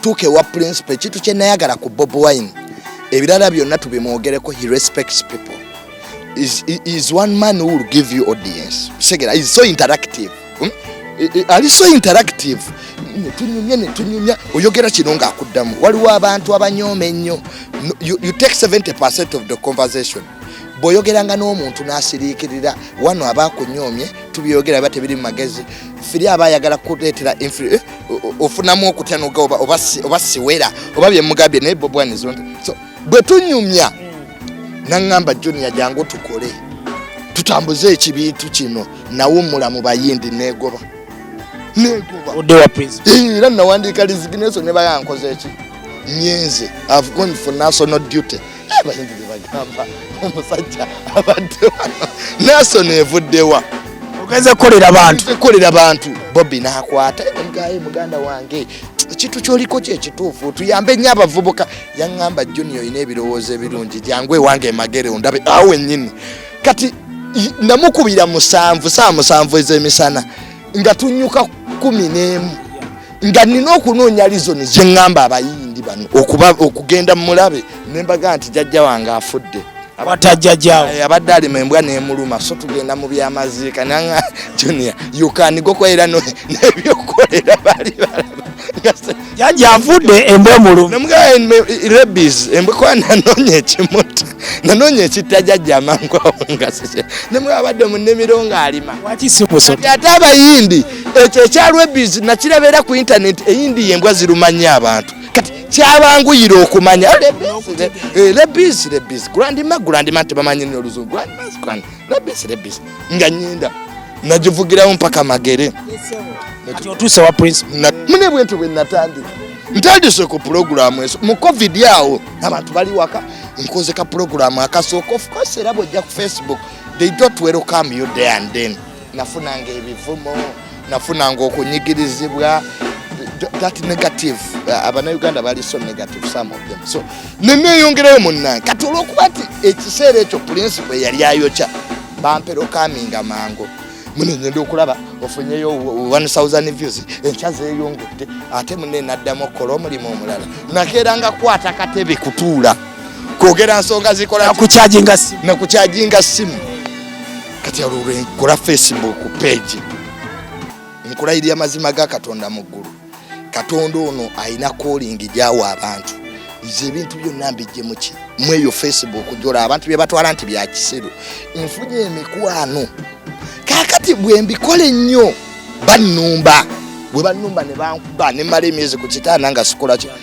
tuuka ewa principal ekintu kye nayagala ku bob wine ebirala byonna tubimwogereko he respects people is, is one man who will give you audience segera is so interactive hmm? ali so interactive netunyumya netunyumya oyogera kino ngaakuddamu waliwo abantu abanyooma ennyo you, you take 70 percent of the conversation bwoyogeranga n'omuntu n'asiriikirira wano aba akunyomye tubyogera biba tebiri mu magezi firi aba ayagala kuleetera eh, ofunamu okutya noga oba siwera oba byemugambye naye bobwanizo so bwe tunyumya naŋŋamba junior jangu tukole tutambuze ekibiitu kino nawummula mu bayindi negoba era nawandiika lizigineso ne bayankoze eki nyenze i've gone for national duty abayimbi bebagamba omusajja abadde nason evuddewa ogenze kukolera bantu kukolera bantu bobi nakwata egaye muganda wange ekintu kyoliko kyekituufu tuyambe nnyo abavubuka yaŋŋamba juni olina ebirowoozo ebirungi jangu ewange emagere ondabe awo wennyini kati namukubira musanvu saa musanvu ez'emisana nga tunyuka kumi n'emu nga nina okunoonya lizoni gye ŋŋamba abayindi bano okugenda mulabe ne mbaga nti jajja wange afudde abatajjajawo eh, abadde alima embwa nemuluma so tugenda mu byamaziika nanga junia yukanigokoera nebyokolera bali balaba Jaja avudde embwa omulumi. Namugaya eh, rabies embwa kwa nanonye ekimuta. Nanonye ekitta jaja amangu awo nga sise. Namugaya abadde mu nnimiro ng'alima. Waki si kusota. Kati ate abayindi ekyo ekya rabies nakiraba era ku internet eyindi y'embwa ziruma nnyo abantu. Kati kyabanguyira okumanya. Rabies, rabies, rabies. Grandma, grandma tebamanyi n'oluzungu. Grandma, grandma. lebisi lebisi nga nyenda nagivugirawo mpaka magere otuuse wa prince mune bwentyo bwe natandika ntandise ku pulogulaamu eso mu covid awo abantu bali waka nkoze ka pulogulaamu akasooka ofukose era bwojja ku facebook they don't welcome you day and then nafunanga ebivumo nafunanga okunyigirizibwa that negative uh, abanauganda bali so negative some of them so neneyongerayo munange kati olwokuba nti ekiseera ekyo principle yali ayokya bampera okaminga mangu munengenda okulaba ofunyeyo 1000 views enkya zeyongedde ate mune naddamu okukola omulimu omulala nakeera nga kwata katebe kutuula kwogera nsonga zikola nakukyajinga simu kati alulwe nkula facebook page nkulayirira amazima ga katonda mu ggulu katonda ono alina kolingi gyawa abantu nze ebintu byonna mbijjemuki mweyo facebook jola abantu bye batwala nti bya kisiru nfunye emikwano kakati bwe mbikola ennyo bannumba bwe bannumba ne bankuba ne mala emyezi ku kitaana nga sikolaki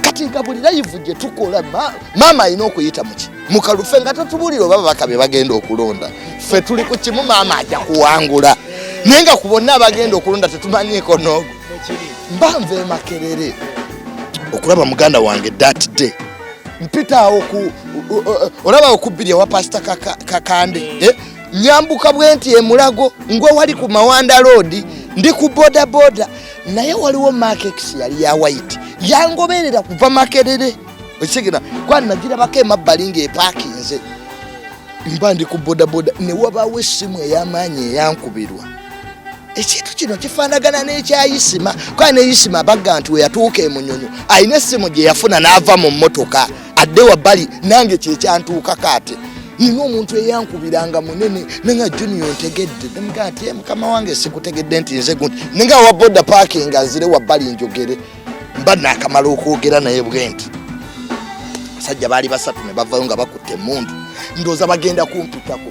kati nga buli layivu gye tukola maama alina okuyita muki mukalufe nga tatubulira oba babaka be bagenda okulonda ffe tuli ku kimu maama ajja kuwangula naye nga ku bonna abagenda okulonda tetumanyiiko noogo mbanva emakerere okulaba muganda wange dat day mpitaawo ku olaba okubbiri ewa pasita kakande eh? nyambuka bwenti emulago ngwe wali ku mawanda road ndi ku bodaboda naye waliwo makex yali ya white yangoberera kuva makerere ekigera kuba nagirabako emabbali ngaepakinze mba ndi ku bodaboda ne wabaawo essimu ey'amaanyi eyankubirwa ekintu kino kifaanagana n'ekyayisima kuba ne yisima bagga nti we yatuuka emunyonyo alina essimu gye yafuna n'ava mu mmotoka adde wabbali nange kyekyantuuka kaate nina omuntu eyankubiranga munene nanga junior ntegedde nemga ati eh, mukama wange sikutegedde nti nze gundi ninga wa boda paaki nga nzire wabbali njogere mba nakamala okwogera naye bwenti abasajja baali basatu ne bavayo nga bakutte emundu ndooza bagenda kumpitako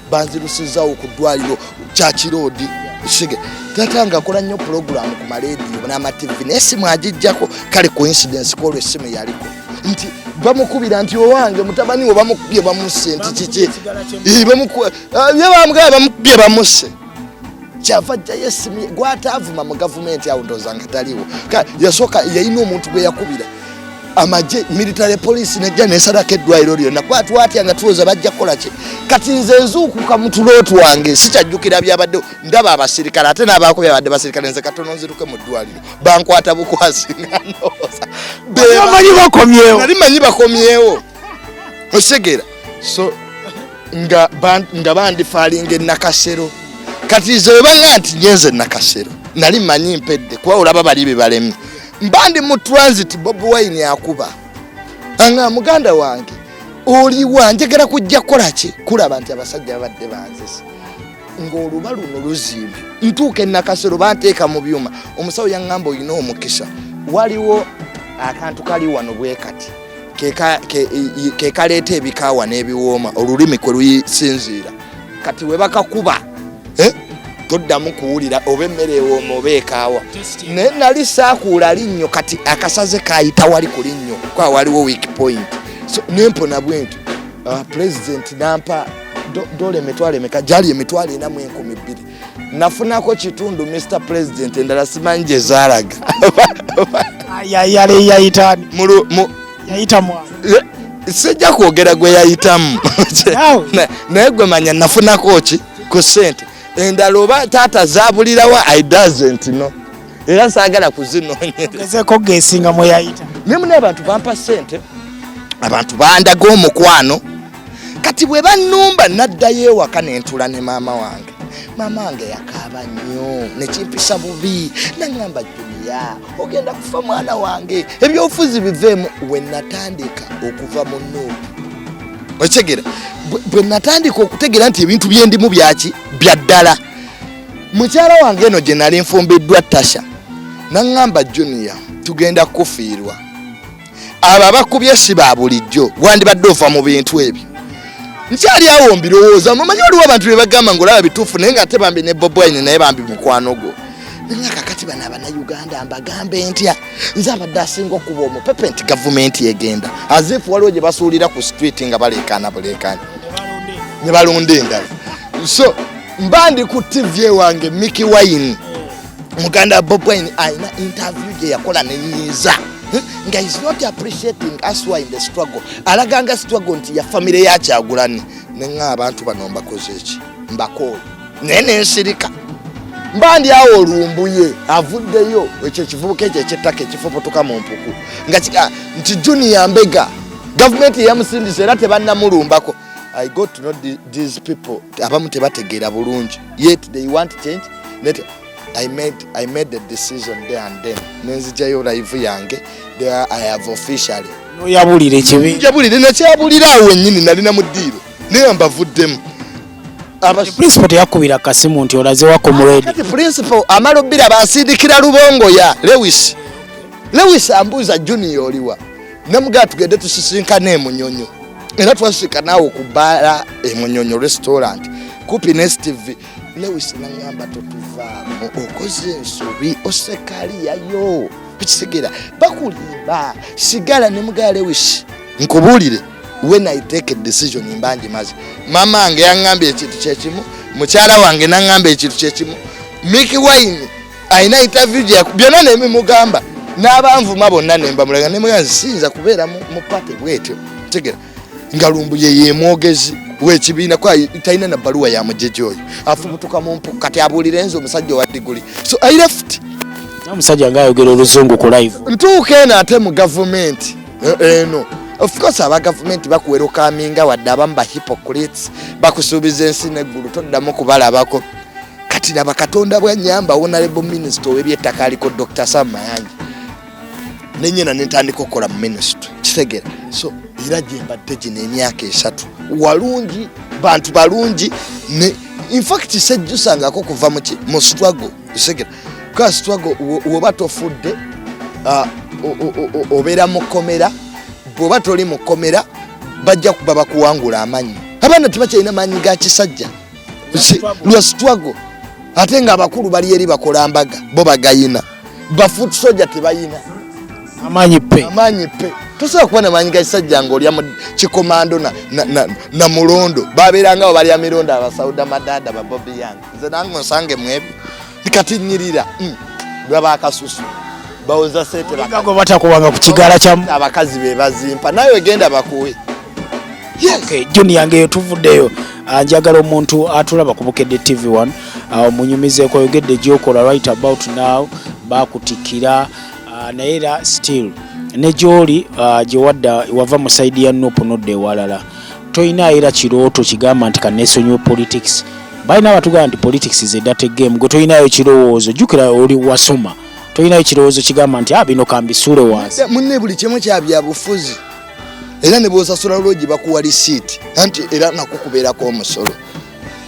banzirusizaawo ku ddwaliro kyakiroodi sige tata nga akola nnyo pulogulaamu ku malediyo n'amativi naye simu agijjako kale coincidence kwolwo essimu yaliko nti bamukubira nti owange mutabani we bamukubye bamusse nti kiki ye bamugaba ah, bamukubye bamusse kyava jjayo essimu gwataavuma mu gavumenti awo ndooza nga taliwo yasooka yalina omuntu gwe yakubira amagye military police nejja nesalako eddwaliro lyonna kuba twatya nga tulooza bajja kukola ki kati nze nzuukuka mu tulooti wange sikyajjukira byabadde ndaba abasirikale ate n'abaako byabadde basirikale nze katono nziruke mu ddwaliro bankwata bukwasi nganoozaali manyi bakomyewo okitegera so nga bandifaalinga enakasero kati ze webaŋa nti nyenze nakasero nali manyi mpedde kuba olaba bali bebalemye mba ndi mu transit bob wine akuba anga muganda wange oliwa njagala kujja kukola ki kulaba nti abasajja babadde banzisa ng'oluba luno luzimbi ntuuka enakasero banteeka mu byuma omusawo yaŋŋamba olina omukisa waliwo akantu kali wano bwe kati ke kaleeta ebikaawa n'ebiwooma olulimi kwe luyisinziira kati we bakakuba eh, toddamu kuwulira oba emmere ewooma oba ekaawa naye nali saakuula linnyo kati akasaze kaayita wali ku linnyo kwa waliwo week point so nempona bwenti ah, pulezidenti nampa dola emitwalo emeka gyali emitwalo enamu enkumi bbiri nafunako kitundu mr president endala simanyi gye zaalaga sijja kwogera gwe yayitamu naye gwe manya nafunako ki ku sente endala oba taata zabulirawo i doesn't no era saagala kuzinonyeekogesinga mweyayita naye muna abantu bampa sente abantu bandaga omukwano kati bwe bannumba naddayo ewaka ne ntula ne maama wange maama wange yakaaba nnyo nekimpisa bubi naŋamba juniya ogenda kufa mwana wange ebyobufuzi biveemu we natandika okuva mu nuupu okitegera bwe natandika okutegera nti ebintu byendimu byaki bya ddala mukyala wange eno gye nali nfumbiddwa tasha naŋamba juniya tugenda kukufiirwa abo abakubye si ba bulijjo wandibadde ova mu bintu ebyo nkyali awo mbirowooza mumanyi waliwo abantu bebagamba nga olaba bituufu naye nga ate bambi ne bobwine naye bambi mukwano gwo nanga kakati bano abanauganda mbagambe ntya nze abadde asinga okuba omupepe nti gavumenti egenda azifu waliwo gye basuulira ku street nga baleekaana buleekaana ne balonda endala so mba ndi ku tv ewange miki wayini muganda bob wine alina interview gye yakola nenyiiza hmm? nga is not appreciating us why in the struggle alaganga struggle nti ya famire yakyagulani nenga abantu bano mbakoze eki mbakooyo naye nensirika mba ndi awo olumbuye avuddeyo ekyo ekivubuka ekyo ekyettaka ekifubutuka mu mpuku nga ah, nti junior mbega gavumenti eyamusindisa era tebannamulumbako i got to know these people abamu tebategeera bulungi yet they want change that I made, I made the decision there and then nenzijayo live yange there I have officially noyabulira ekibi njabulire nakyabulira awo wenyini nali namudiiro naye mbavuddemu principal teyakubira kasimu nti olaze wako muredi kati principal amalo bila basindikira lubongo ya lewis lewis ambuza junior oliwa Namugaa tugende tusisinkane emunyonyo era twasika naawe ku bbaala emunyonyo restaurant kupi ne steve lewis nangamba totuvaamu okoze ensobi osekaliyayo ekitegera bakulimba sigala ne mugaa lewis nkubuulire when i take a decision mbangi mazi mama wange yaŋŋambye ekintu kyekimu mukyala wange naŋŋambye ekintu kyekimu miki wine alina interview gye byonna nemimugamba n'abanvuma bonna nembamulaga nemugaa siyinza kubeera mu pate bwetyo tegera nga lumbuye yemwogezi wekibiina kwa talina na baluwa ya mujeje oyo afubutuka mu mpuku kati abuulire nze omusajja owa diguli so i left omusajja nga ayogera oluzungu ku live ntuuka eno ate mu gavumenti eh, eno of course aba gavumenti bakuwera okaminga wadde abamu ba hypocrites bakusuubiza ensi neggulu toddamu kubalabako kati laba katonda bwanyamba honorable minister owebyettaka aliko dr sam mayanja nenyena nentandika okukola mu ministry kitegera so era gyembadde gino emyaka esatu walungi bantu balungi ne infact sejjusangako kuva muki mu struggle kitegera ka struggle woba tofudde uh, obeera mu kkomera bwoba toli mu kkomera bajja kuba bakuwangula amanyi abaana tebakyalina maanyi ga kisajja lwa struggle ate nga abakulu bali eri bakola mbaga bo bagayina bafoot soja tebayina amaanyi pe amaanyi pe tosobola kuba namaanyi gakisajja nga olya kikomando na mulondo babeerangawo balya mirondo abasauda madada babobi yange nze nange onsange mwebyo kati nyirira mm. laba akasusu bawoza sente bakago batakuwanga ku kigala kya abakazi be bazimpa nawe genda bakuwe yes. okay, junior ngeyo tuvuddeyo ah, njagala omuntu atulaba ku bukedde tv 1 ah, omunyumizeko oyogedde gyokola right about now bakutikira ah, naye era still ne gyoli gyewadda wava mu saidi ya nup nodda ewalala tolina era kirooto kigamba nti kanesonyiwe politics balina abatugamba nti politics is a dirty game gwe tolinayo kirowoozo jukira oli wasoma tolinayo kirowoozo kigamba nti a ah, bino kambisuule wansi munne buli kimu kyabyabufuzi era ne bwosasula lwogi bakuwa lisiiti anti era nakukubeerako omusolo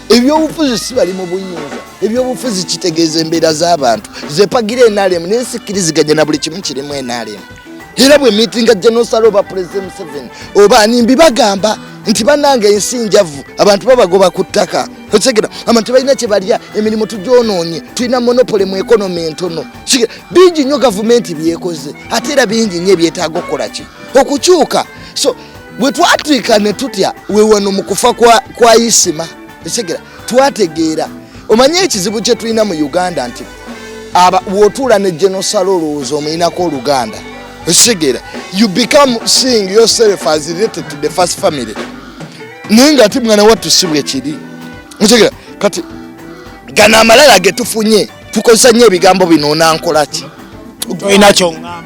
ebyobufuzi si bali mu buyinza ebyobufuzi kitegeeza embeera z'abantu zepagira enalemu naye sikkiriziganya na buli kimu kirimu enalemu era bwe mitinga genosala oba pulezida museveni oba nimbi bagamba nti banange ensi njavu abantu babagoba ku ttaka okitegera abantu balina kyebalya emirimu tugyonoonye tulina monopole mu ekonomi entono bingi nnyo gavumenti byekoze ate era bingi nnyo ebyetaaga okukola ki okukyuka so bwe twatwika ne tutya wewano mu kufa kwa isima okitegera twategeera omanyi ekizibu kye tulina mu uganda nti wotuula ne genosalo olowooza omuyinako oluganda okitegera you become seeing yourself as related to the first family naye nga ati mwana wattu si bwekiri okitegera kati gano amalala getufunye tukozesa nyo ebigambo bino onankolaki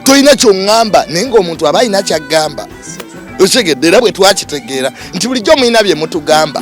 tolina kyoŋŋamba naye ngaomuntu aba alina kyaggamba okitegedde era bwe twakitegeera nti bulijjo mulina bye mutugamba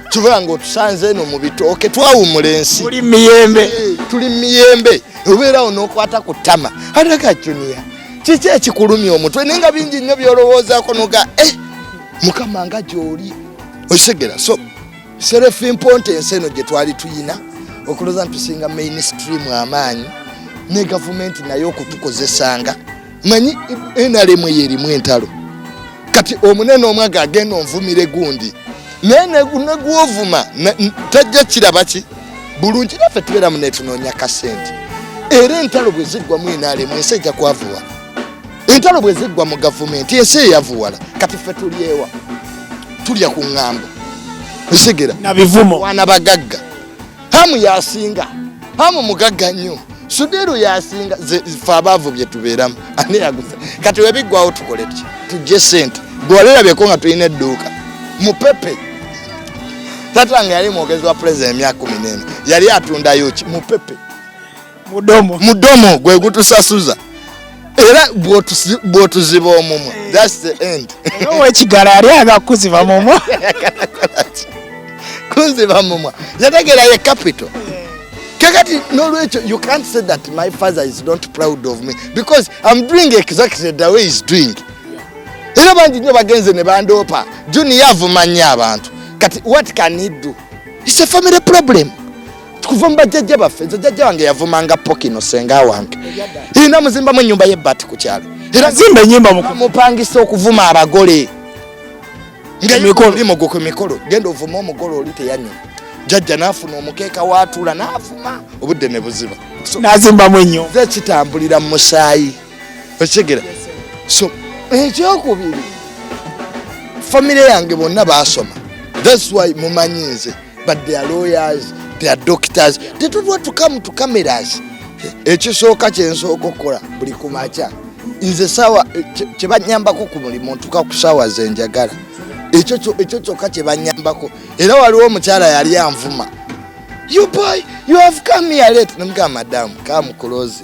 kiva nga otusanze eno mu bitooke twawumula ensi tuli miyembe eh, tuli miyembe obeerawo n'okwata ku ttama alaga juniya kiki ekikulumya omutwe naye nga bingi nnyo byolowoozaako noga e eh, mukama nga gyoli okitegera so serefi mponte ensi eno gye twali tuyina okulooza nti tusinga mainstream amaanyi ne gavumenti naye okutukozesanga manyi enalemu eyo erimu entalo kati omunene omwaga agenda onvumire gundi naye negwovuma tajja kirabaki bulungi naffe tubeera mu netunoonya kasente era entalo bwe ziggwa mu enalemu ensi ejja kwavuwa entalo bwe ziggwa mu gavumenti ensi eyavuwala kati ffe tulyewa tulya ku ŋŋambo nsigera nabivumo wana bagagga hamu yasinga hamu mugagga nnyo sudiru yasinga fe abaavu bye tubeeramu ani yaguza kati webiggwawo tukole ki tujje sente gwewalirabyeko nga tulina edduuka mupepe tata nga yali mwogezi wa pulezida emyaka kumi n'ena yali atundayo ki mupepe mudomo mudomo gwe gutusasuza era bwotuziba omumwa eh. thats the end owekigala yali aga kuziba mumwa kunziba mumwa yategera ye capital kakati nolwekyo you can't say that my father is not proud of me because im doing exactly the way is doing era bangi nyo bagenze ne bandoopa junior avuma nnyo abantu kati what can he do its a family problem kuva mu bajjajja baffe nze jajja wange yavumanga pokino senga wange irina muzimbamu enyumba yebbati ku kyalo erazimba enyumba mupangisa okuvuma abagole ngaolimugo ku mikolo genda ovuma omugole oli teyanyuma jajja nafuna omukeeka watula navuma obudde ne buziba nazimbamu enyo ze kitambulira mu musaayi okigera so ekyokubiri famire yange bonna basoma thats why mumanyi nze but they are lawyers they are doctors they don't want to come to cameras ekisooka kyensooka okukola buli kumakya nze sawa kyebanyambako ku mulimu ntuka ku sawa zenjagala ekyo kyokka kyebanyambako era waliwo omukyala yali anvuma you boy you have come here late namugamba madamu kamukulozi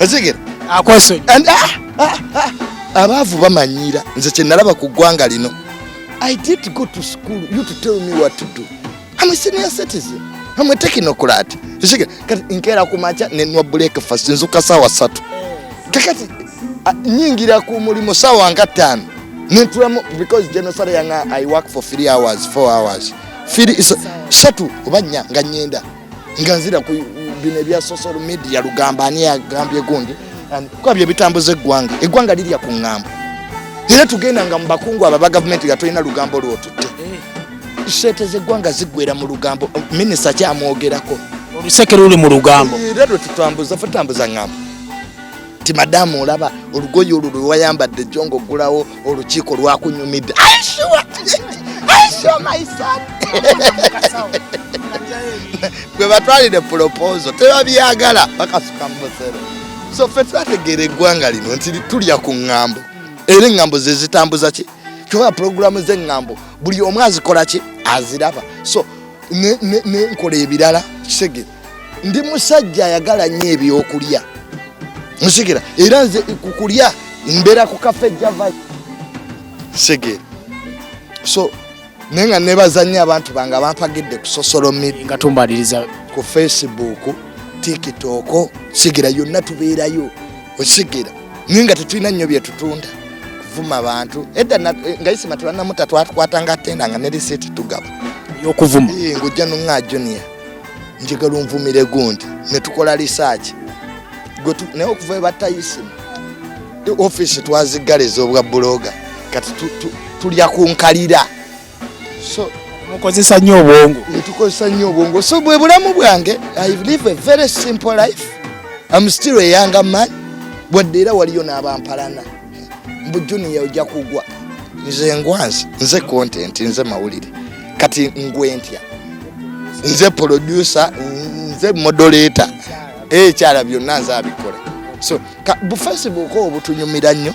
ozigera akwesonyi ah, ah, ah, abaavu bamanyiira nze kyenalaba ku ggwanga lino i did go to school you to tell me what to do am a senior citizen am a technocrat ozigera kati nkeera ku maca nenwa breakfast nzuka saawa satu kakati nyingira ku mulimu saawa nga ttaano nentulamu because genocide yanga i work for three hours four hours firi satu oba nnya nga nyenda nga nzira ku bino ebya social media lugamba ani agambye gundi kuba bye bitambuza eggwanga eggwanga lirya ku ŋŋambo era tugenda nga mu bakungu aba ba gavumenti nga tolina lugambo lwotutte sente zeggwanga ziggwera mu lugambo minisita kyamwogerako oluseke luli mu lugambo era lwe tutambuza fe tambuza ŋŋambo ti madamu olaba olugoye olwo lwewayambadde jo nga ogulawo olukiiko lwakunyumidde gwe batwalire pulopozo tebabyagala bakasuka mu musero so fe twategeera eggwanga lino nti tulya ku ŋŋambo era eŋŋambo ze zitambuza ki kyoba pulogulaamu z'eŋŋambo buli omu azikola ki aziraba so nenkola ebirala kisegere ndi musajja ayagala nnyo ebyokulya nsikira era nze kukulya mbeera ku kafe java segere so naye nga nebaza nnyo abantu bange abampagidde ku sosolo midiatumbaliriza ku facebook tiktok sigera yonna tubeerayo osigera naye nga tetulina nnyo byetutunda kuvuma bantu edda eh, nga isima tebanamuta twatukwatanga tenda nga ne risiti tugaba yokuvuma ngojja nonga junior njagala onvumire gundi ne tukola risaaki naye okuva ebatayisima ofiisi twaziggala ez'obwa buloga kati tulya ku nkalira so mukozesa nnyo obwongo netukozesa nnyo obwongo so bwe bulamu bwange i live a very simple life am still a younger man wadde era waliyo n'abampalana mbu junior ojja kugwa nze ngwanzi nze content nze mawulire kati ngwentya nze producer nze modoleta ekyala eh, byonna nze abikola so bufesi buko obutunyumira nnyo